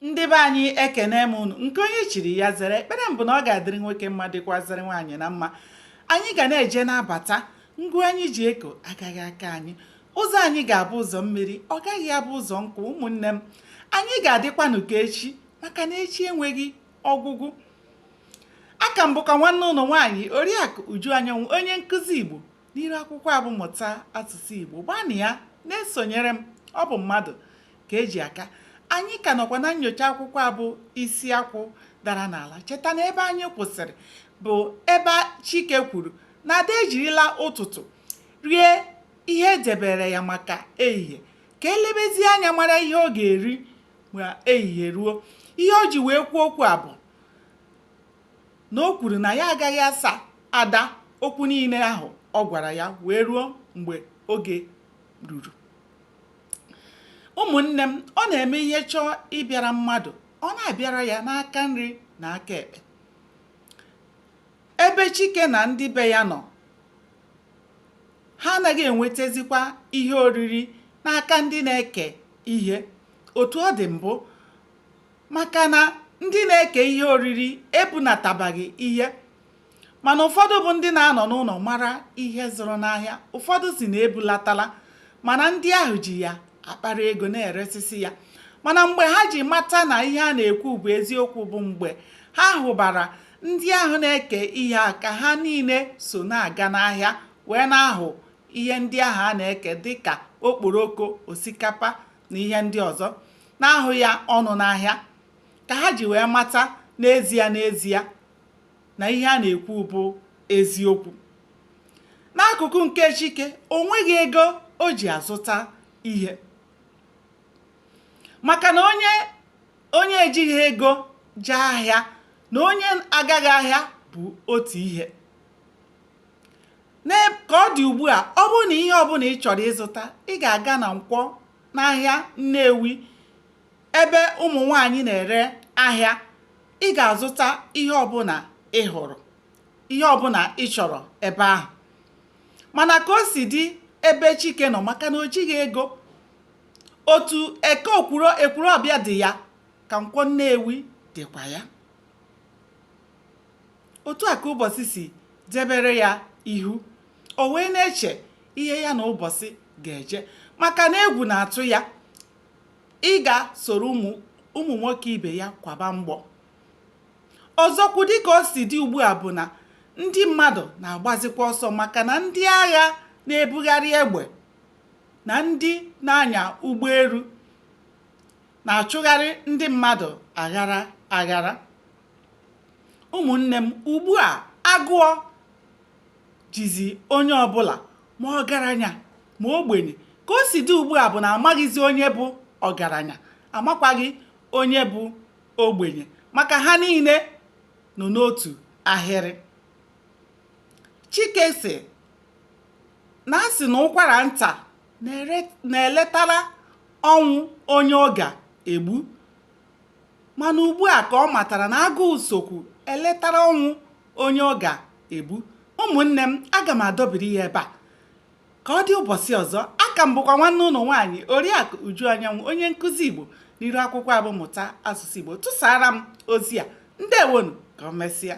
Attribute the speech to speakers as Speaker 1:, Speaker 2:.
Speaker 1: ndị be anyị ekene m unu nke onye chiri ya zere ekpere m bụ na ọ ga-adịrị nwoke mma dịkwazịrị nwaanyị na mma anyị ga na-eje na-abata ngụ anyị ji eko agaghị akwa anyị ụzọ anyị ga-abụ ụzọ mmiri ọ gaghị abụ ụzọ nkụ ụmụnne m anyị ga-adịkwanụ ka echi maka na echi enweghị ọgwụgwụ aka m bụkwa nwanne unu nwaanyị oriakụ uju anyanwụ onye nkụzi igbo N'iru akwụkwọ a bụ Mụta Asụsụ Igbo, gbanịa na-esonyere m, ọ bụ mmadụ ka eji aka. Anyị ka nọkwa na nnyocha akwụkwọ a bụ Isi Akwụ Dara n'Ala. Cheta na ebe anyị kwụsịrị bụ ebe Chike kwuru na Ada ejirila ụtụtụ rie ihe edebere ya maka ehihie ka elebezie anya mara ihe ọ ga-eri ma ehihie ruo. Ihe o ji wee kwuo okwu a bụ na o kwuru na ya agaghị asa Ada okwu niile ahụ ọ gwara ya wee ruo mgbe oge ruru. Ụmụnne m, ọ na-eme ihe chọọ ịbịara mmadụ, ọ na-abịara ya n'aka nri na aka ekpe. Ebe Chike na ndị be ya nọ, ha anaghị enwetazikwa ihe oriri n'aka ndị na-eke ihe otu ọ dị mbụ maka na ndị na-eke ihe oriri ebunatabaghị ihe mana ụfọdụ bụ ndị na-anọ n'ụlọ mara ihe zụrụ n'ahịa ụfọdụ sị na ebulatala mana ndị ahụ ji ya akpara ego na-eresisi ya mana mgbe ha ji mata na ihe a na-ekwu bụ eziokwu bụ mgbe ha hụbara ndị ahụ na-eke ihe a ka ha niile so na-aga n'ahịa wee na-ahụ ihe ndị ahụ a na-eke dịka okporoko osikapa na ihe ndị ọzọ na-ahụ ya ọnụ n'ahịa ka ha ji wee mata n'ezie n'ezie na ihe a na-ekwu bụ eziokwu n'akụkụ nke chike o nweghị ego o ji azụta ihe maka na onye ejighị ego jee ahịa na onye agaghị ahịa bụ otu ihe ka ọ dị ugbu a ọ bụrụ na ihe ọbụla ị chọrọ ịzụta ị ga-aga na nkwọ n'ahịa Nnewi ebe ụmụ nwaanyị na-ere ahịa ị ga-azụta ihe ọbụla ị hụrụ ihe ọbụla ị chọrọ ebe ahụ mana ka o si dị ebe Chike nọ maka na o jighị ego otu Eke okwuro Ekwulọbịa dị ya ka Nkwọ Nnewi dịkwa ya otu a ka ụbọchị si debere ya ihu o wee na-eche ihe ya na ụbọchị ga-eje maka na egwu na-atụ ya ịga soro ụmụ nwoke ibe ya kwaba mgbọ ọzọkwu dịka o si dị ugbu a bụ na ndị mmadụ na-agbazikwa ọsọ maka na ndị agha na-ebugharị egbe na ndị na-anya ụgbọelu na-achụgharị ndị mmadụ aghara aghara ụmụnne m ugbu a agụụ jizi onye ọbụla ma ọgaranya ma ogbenye ka o si dị ugbu a bụ na amaghịzi onye bụ ọgaranya amakwaghị onye bụ ogbenye maka ha niile nọ n'otu ahịrị chike sị na a sị na ụkwara nta na-eletara ọnwụ onye ọ ga-egbu Mana ugbu a ka ọ matara na agụụ sokwu eletara ọnwụ onye ọ ga-egbu. Ụmụnne m, aga m adọbiri ya ebe a. Ka ọ dị ụbọchị ọzọ, aka m bụkwa nwanne unu nwaanyị Oriakụ Uju Anyanwụ, onye nkụzi Igbo n'iru akwụkwọ a bụ Mụta Asụsụ Igbo tụsaara m ozi a. Ndewonụ, ka o mesịa.